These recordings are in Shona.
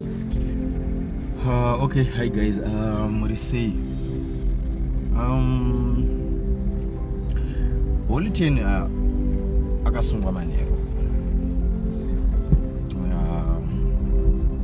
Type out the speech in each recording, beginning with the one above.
Uh, okay, hi guys, uh, muri sei? Um, Holy Ten uh, akasungwa manheru uh,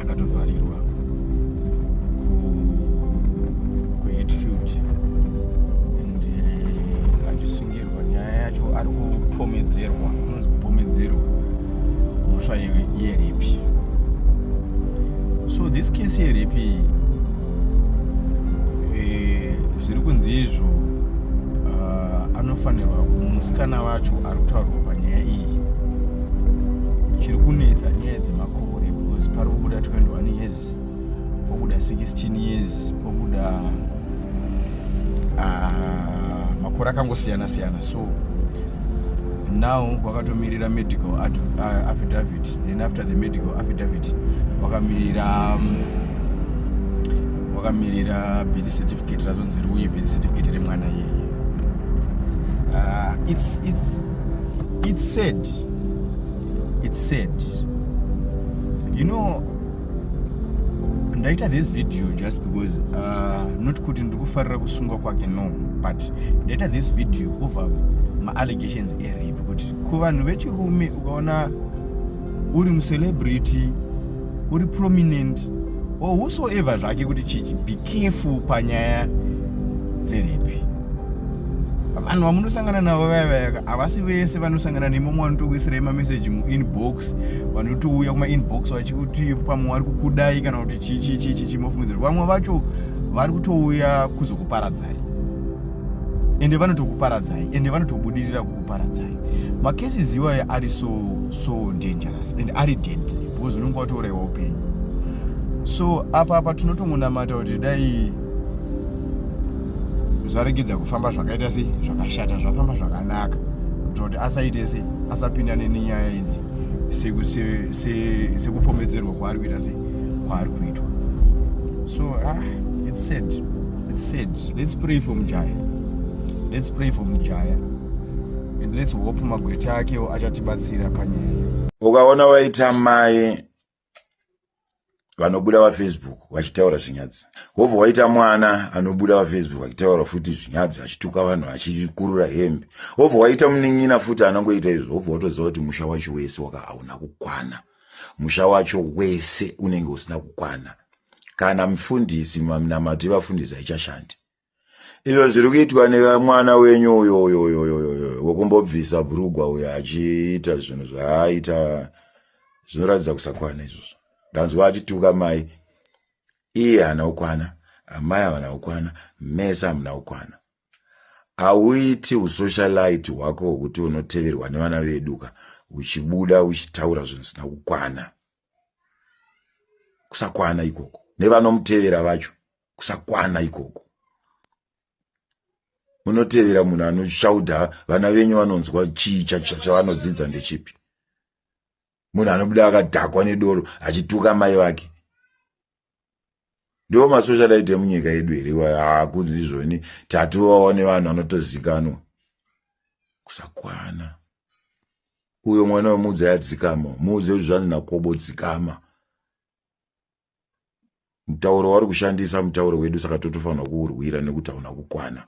akatovharirwa kuHatfield and uh, andisungi nyaya yacho ari kupomedzerwa anonzi kupomedzerwa mhosva yerepi so this case yerepi eh, zviri kunzi izvo ah, anofanirwa musikana vacho ari kutaurwa panyaya iyi chiri kunetsa nyaya dzemakore because pari kubuda 21 years pobuda 16 years pobuda uh, makore akangosiyana siyana so now wakatomirira medical ah, affidavit then after the medical affidavit wakamirira um, wakamirira birth certificate razonzi riuye birth certificate remwana yeye uh, it's, it's, it's sad it's sad you know ndaita this video just because uh, not kuti ndiri kufarira kusungwa kwake no but ndaita this video over maallegations erape kuti kuvanhu vechirume ukaona uri mucelebrity uri prominent or whosoever zvake kuti chii big kefu panyaya dzerepi vanhu vamunosangana navo vaya vayaka havasi vese vanosangana nemumwe vanotokuisirai mameseji muinbox vanotouya kumainbox vachikuti pamwe vari kukudai kana kuti chichichichichi mofungidzira vamwe vacho vari kutouya kuzokuparadzai ende vanotokuparadzai ende vanotobudirira kukuparadzai makesis iwayo ari so so dangerous and ari deadly because unenge watouraiwa upenyu so apa apa tinotongonamata kuti dai zvaregedza kufamba zvakaita sei zvakashata zvafamba zvakanaka kuitira kuti asaite sei asapindane nenyaya idzi sekupomedzerwa kwaari kuita sei kwaari kuitwa so ah, it's sad it's sad let's pray for mujaya let's pray for mujaya and let's hope magweta akewo achatibatsira panyaya ukaona waita mai vanobuda vafacebook vachitaura zvinyadzi hobva waita mwana anobuda vafacebook achitaura futi zvinyadzi achituka vanhu achikurura hembe hobva waita munin'ina futi anongoita izvo hobva watoziva kuti musha wacho wese waka hauna kukwana musha wacho wese unenge usina kukwana kana mufundisi maminamato yevafundisi haichashandi izvo zviri kuitwa nemwana wenyu uyo uyo uyo uyo uyo uyo wekumbobvisa bhurugwa uyo achiita zvinhu zvaaita zvinoratidza kusakwana izvozvo ndanzwa achituka mai iye hana ukwana amai havana ukwana mese hamuna ukwana hauiti usocialite hwako hwekuti unoteverwa nevana veduka uchibuda uchitaura zvinhu zvisina kukwana kusakwana ikoko nevanomutevera vacho kusakwana ikoko munotevera munhu anoshaudha vana venyu vanonzwa chii chavanodzidza ndechipi munhu anobuda akadhakwa nedoro achituka mai vake ndiwo masocial aite munyika yedu here akunzi izvoni tatovawa nevanhu vanotozikanwa kusakwana uyo mwana wemuudza yadzikama muuze kuti zvanzi nakobo dzikama mutauro wauri kushandisa mutauro wedu saka totofanirwa kuurwira nekuti hauna kukwana.